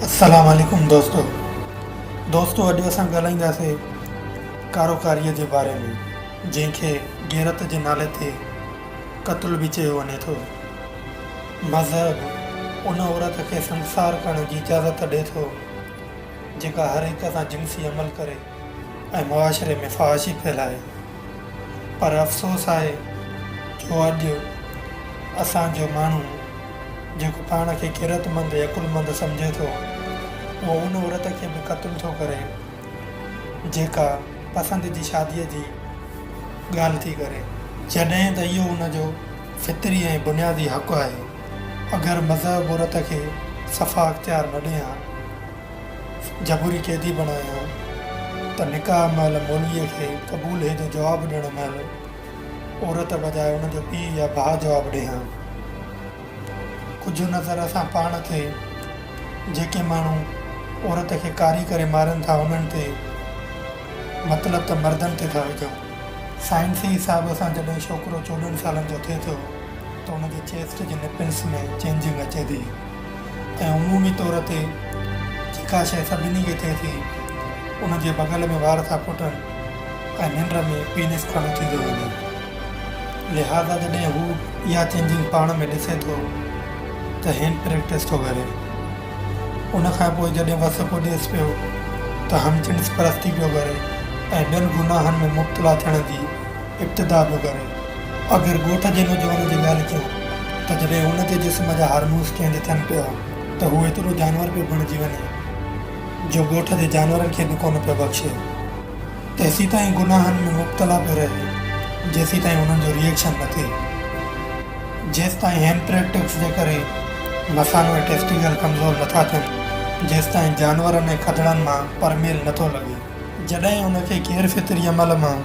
السلام عليڪم دوستو دوستو اڄ اسان ڳالهائينداسي ڪاروڪاري جي باري ۾ جنهن کي غيرت جي نالي تي قتل به چيو وڃي ٿو مذهب ان عورت کي سنگسار ڪرڻ جي اجازت ڏي ٿو جيڪا هر هڪ سان جنسي عمل ڪري ۽ معاشري ۾ فحاشي ڦهلائي پر افسوس آهي جو اڄ اسان جو ماڻهو جيڪو پاڻ کي غيرتمند ۽ عقلمند سمجهي ٿو اهو ان عورت کي به قتل ٿو ڪري جيڪا پسند جي شادي جي ڳالهه ٿي ڪري. جڏهن ته اهو ان جو فطري ۽ بنيادي حق آهي اگر مذهب عورت کي صفا اختيار نه ڏئي ها جبري قيدي بڻايائون ته نڪاح مهل مولويء کي قبول هي جو جواب ڏيڻ مهل عورت بجاء ان جو پيء يا ڀاء جواب ڏئي ها. ڪجهه نظر اسان پاڻ تي جيڪي ماڻهو عورت کي ڪاري ڪري مارين ٿا انهن تي مطلب ته مردن تي ٿا وجهون. سائنسي حساب سان جڏهن ڇوڪرو چوڏهن سالن جو ٿئي ٿو ته ان جي چيسٽ جي نپلس ۾ چينجنگ اچي ٿي. ۽ عمومي طور تي جيڪا شيء سڀني کي ٿئي ٿي، ان جي بغل ۾ وار ٿا ڦٽن ۽ ننڊ ۾ پينس کڙو ٿيندو وڃي. لهٰذا جڏهن هو اها چينجنگ پاڻ ۾ ڏسي ٿو ته هين پريڪٽس ٿو ڪري. ان کان پوء جڏهن وس ڪوڏيس پيو ته همجنس پرستي پيو ڪري ۽ ٻين گناهن ۾ مبتلا ٿيڻ جي ابتدا به ڪري. آخر ڳوٺ جي نوجوان جي ڳالهه ڪيون ته جڏهن هن جي جسم جا هارمونز چينج ٿين پيا ته هو ايترو جانور پيو بڻجي وڃي جو ڳوٺ جي جانورن کي به ڪونه پيو بخشي. تيسيتائين گناهن ۾ مبتلا پيو رهي جيسيتائين انهن جو ريئيڪشن نه ٿئي. جيستائين هيمپريٽڪس جي ڪري مثانو ۽ ٽيسٽيڪل ڪمزور نٿا ٿين جيستائين جانورن ۽ کدڙن مان پرميل نٿو لڳي. جڏهن ان کي غير فطري عمل مان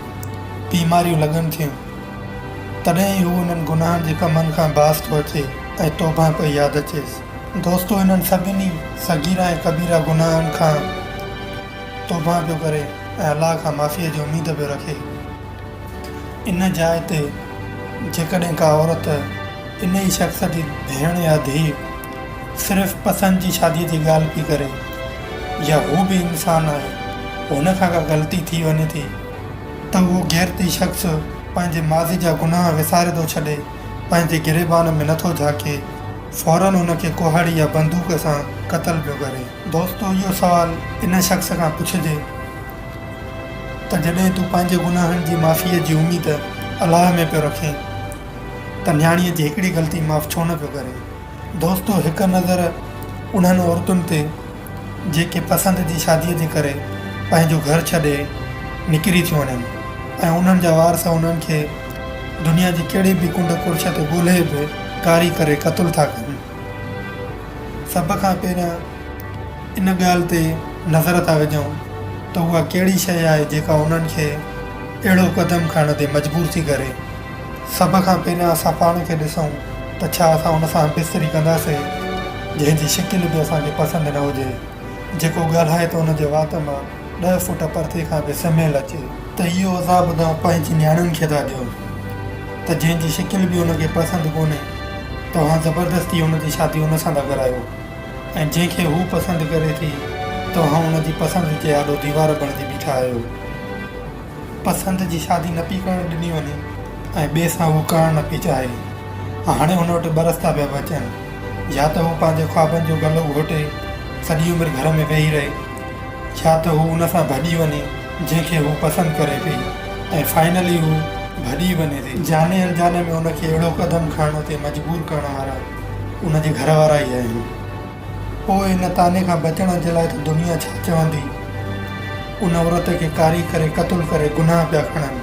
بيماريون لڳن ٿيون، تڏهن ئي هو انهن گناهن جي ڪمن کان باز ٿو اچي ۽ توبهه پئي ياد اچيس. دوستو انهن سڀني صغيره ۽ ڪبيره گناهن کان توبهه پيو ڪري ۽ الله کان معافيء جي اميد پيو رکي. ان جاء تي جيڪڏهن ڪا عورت انهيء شخص جي ڀيڻ يا ڌيء صرف پسند جي شاديء جي ڳالهه پئي ڪري يا هو به انسان آهي هن کان ڪا غلطي ٿي وڃي ٿي ته اهو غيرتي شخص پنهنجي ماضي جا گناهه وساري ٿو ڇڏي پنهنجي گريبان ۾ نٿو جهاڪي فورن هن کي ڪهاڙي يا بندوق سان قتل پيو ڪري. دوستو اهو سوال ان شخص کان پڇجي ته جڏهن تون پنهنجي گناهن جي معافيء جي اميد الله ۾ پيو رکين ته نياڻيء جي هڪڙي غلطي معاف ڇو نه پيو ڪرين. دوستو هڪ نظر انهن عورتن تي جيڪي پسند جي شاديء جي ڪري پنهنجو گهر ڇڏي نڪري ٿيون وڃن ۽ انهن جا وارث انهن کي دنيا جي ڪهڙي به ڪنڊ ڪڙڇ تي ڳولهي به ڪاري ڪري قتل ٿا ڪن. سڀ کان پهريان ان ڳالهه تي نظر ٿا وجهون ته اها ڪهڙي شيء آهي جيڪا انهن کي اهڙو قدم کڻڻ تي مجبور ٿي ڪري. سڀ کان پهريان اسان پاڻ کي ڏسون ته ڇا اسان ان سان بستري ڪنداسين جنهن جي شڪل به اسان کي پسند نه هجي، جيڪو ڳالهائي ته ان جي وات مان ڏهه فوٽ پرتي کان به سمهيل اچي. ته اهو عذاب توهان پنهنجي نياڻين کي ٿا ڏيو ته جنهن جي شڪل به ان کي پسند ڪونهي، توهان زبردستي ان جي شادي ان سان ٿا ڪرايو ۽ جنهن کي هو پسند ڪري ٿي، توهان ان جي پسند جي آڏو ديوار بڻجي بيٺا آهيو. پسند جي شادي نه پئي ڪرڻ ڏني وڃي ۽ ٻئي سان هو ڪرڻ نه پئي چاهي. هاڻي هن وٽ ٻه رستا پيا بچن، يا ته هو پنهنجي خوابن جو گلو گهوٽي سڄي عمر گهر ۾ ويهي رهي، يا ته هو ان سان ڀڄي وڃي جنهن کي هو پسند ڪري پئي ۽ فائنلي هو ڀڄي ئي وڃي ٿي. جاني الجاني ۾ هن کي اهڙو قدم کڻڻ تي مجبور ڪرڻ وارا ان جي گهر وارا ئي آهن. پوء ان طعني کان بچڻ جي لاء ته دنيا ڇا چوندي؟ ان عورت کي ڪاري ڪري قتل ڪري گناهه پيا کڻن.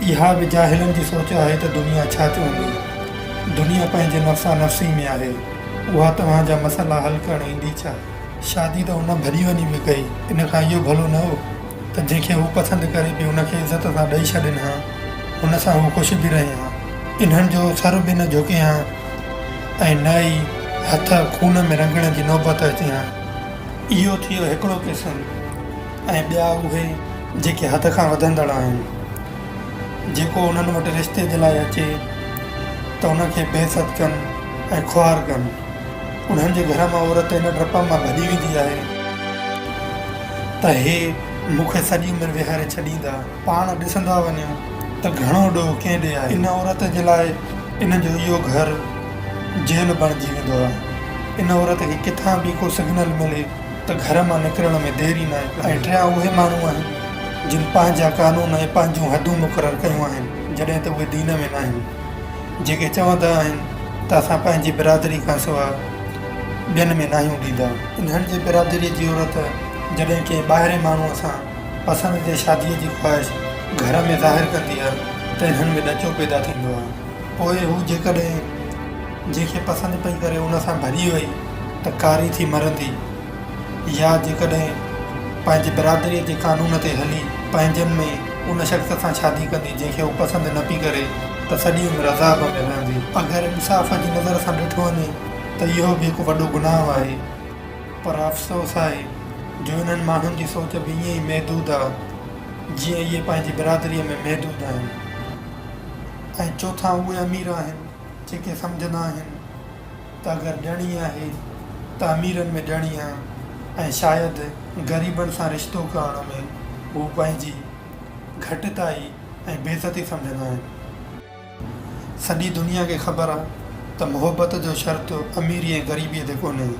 اها به جاهلن جي سوچ آهي ته دنيا ڇا چوندي؟ دنيا پنهنجي نفسا نفسي ۾ آهي. اها توهان جا مسئلا حل ڪرڻ ايندي ڇا؟ شادي ته ان ڀڄي وڃي به ڪئي. ان کان اهو ڀلو نه هو. ته جنهن کي هو پسند ڪري پئي ان کي عزت سان ڏئي ڇڏين ها، ان سان هو خوش به رهين ها. انهن جو سر به نه جهڪين ها ۽ نه ئي هٿ خون ۾ رڱڻ جي نوبت اچين ها. اهو ٿيو هڪڙو قسم ۽ ٻيا اهي جيڪي حد کان وڌندڙ آهن. جيڪو انهن وٽ رشتي جي لاء اچي ته ان کي بي عزت ڪن ۽ خوار ڪن. انهن جي گهر مان عورت ان ڊپ مان ڀڄي ويندي آهي. ته هي مون کي سڄي عمر ويهاري ڇڏيندا. پاڻ ڏسندا وڃو ته گهڻو ڏوهه ڪنهن ڏي آهي. ان عورت جي لاء ان جو اهو گهر جيل بڻجي ويندو آهي. ان عورت کي ڪٿان به ڪو سگنل ملي ته گهر مان نڪرڻ ۾ دير ئي ناهي ڪندي. ۽ ٽيان اهي ماڻهو آهن جن پنهنجا قانون ۽ پنهنجون حدون مقرر ڪيون آهن جڏهن ته اهي دين ۾ ناهن. جيڪي چوندا آهن ته اسان پنهنجي برادري کان سواء ٻين ۾ ناهيون ڏيندا. انهن جي برادريء جي عورت جڏهن ڪنهن ٻاهرين ماڻهوء سان پسند جي شاديء جي خواهش گهر ۾ ظاهر ڪندي آهي ته انهن ۾ ڏچو پيدا ٿيندو آهي. پوء هو جيڪڏهن جنهن کي پسند پئي ڪري ان سان ڀري وئي ته ڪاري ٿي مرندي. يا جيڪڏهن پنهنجي برادريء جي قانون تي هلي پنهنجن ۾ ان شخص سان شادي ڪندي جنهن کي هو پسند نه پئي ڪري ته سڄي عمر عذاب ۾ رهندي. اگر انصاف جي نظر سان ڏٺو وڃي ته اهو به هڪ وڏو گناهه آهي. پر افسوس آهي جو انهن ماڻهن جي سوچ به ائين ئي محدود آهي جيئن اهي پنهنجي برادريء ۾ محدود آهن. ۽ چوٿان اهي امير آهن جيڪي سمجهندا آهن. ته گهر ڏيڻي آهي، ته اميرن ۾ ڏيڻي آهي ۽ شايد غريبن سان رشتو ڪرڻ ۾ هو پنهنجي گهٽتائي ۽ بيعزتي سمجهندا آهن. سڄي دنيا کي خبر آهي ته محبت جو شرط اميري ۽ غريبيء تي ڪونهي.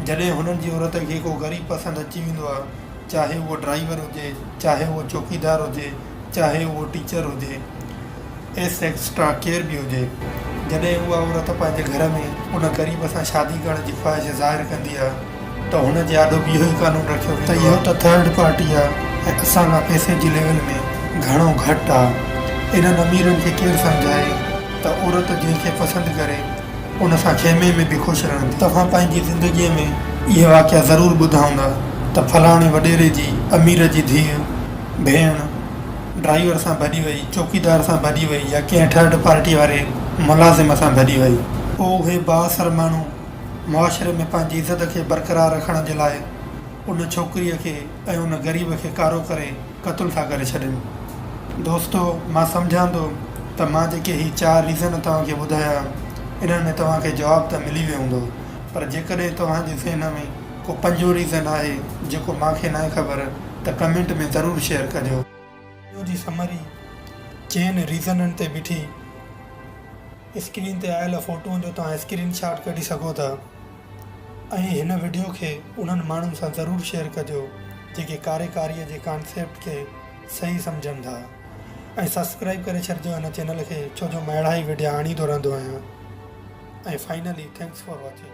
جڏهن هنن جي عورت کي ڪو غريب پسند اچي ويندو آهي، چاهي اهو ڊرائيور هجي، چاهي اهو چوڪيدار هجي، چاهي اهو ٽيچر هجي يا سيڪس ٽراڪيئر به هجي، جڏهن اها عورت پنهنجي گهر ۾ ان غريب سان شادي ڪرڻ جي خواهش ظاهر ڪندي آهي ته هن جي آڏو به اهو ئي قانون رکيو ويندو آهي ته اهو ته ٿرڊ پارٽي آهي ۽ اسان کان پئسي جي ليول ۾ گهڻو گهٽ آهي. انهن اميرن کي ڪير سمجهائي ته عورت جنهن کي پسند ڪري ان سان خيمي ۾ به خوش رهندي. توهان پنهنجي زندگيء ۾ اهي واقعا ضرور ٻڌا هوندا ته فلاڻي وڏيري جي امير جي ڌيء، ڀيڻ ڊرائيور سان ڀڄي وئي، چوڪيدار سان ڀڄي وئي يا ڪنهن ٿرڊ پارٽي واري ملازم سان ڀڄي وئي. پوء اهي بااثر ماڻهو معاشري ۾ پنهنجي عزت کي برقرار رکڻ جي لاء ان ڇوڪريء کي ۽ ان غريب کي ڪارو ڪري قتل ٿا ڪري ڇڏين. دوستو مان سمجهان ٿو ته مان جيڪي هي چار ريزن توهان کي ٻڌايا انهن ۾ توهان کي جواب ته ملي ويو هوندو پر جيڪڏهن توهان جي ذهن ۾ ڪو پنجون ريزن آهي جيڪو مان کي ناهي خبر ته ڪمينٽ ۾ ضرور شيئر ڪجو. وڊيو جي سمري چئن ريزنن تي بيٺي اسڪرين تي آيل فوٽون جو توهان اسڪرين شاٽ ڪڍي سگهو ٿا ۽ هن وڊيو کي انهن ماڻهن سان ضرور شيئر ڪجو جيڪي ڪاريڪاري جي ڪانسيپٽ کي صحيح سمجهن ٿا ۽ سبسڪرائب ڪري ڇڏجو هن چينل کي ڇو جو مان اهڙا ئي وڊيا آڻيندو رهندو آهيان ۽ فائنلي ٿينڪس فار واچنگ.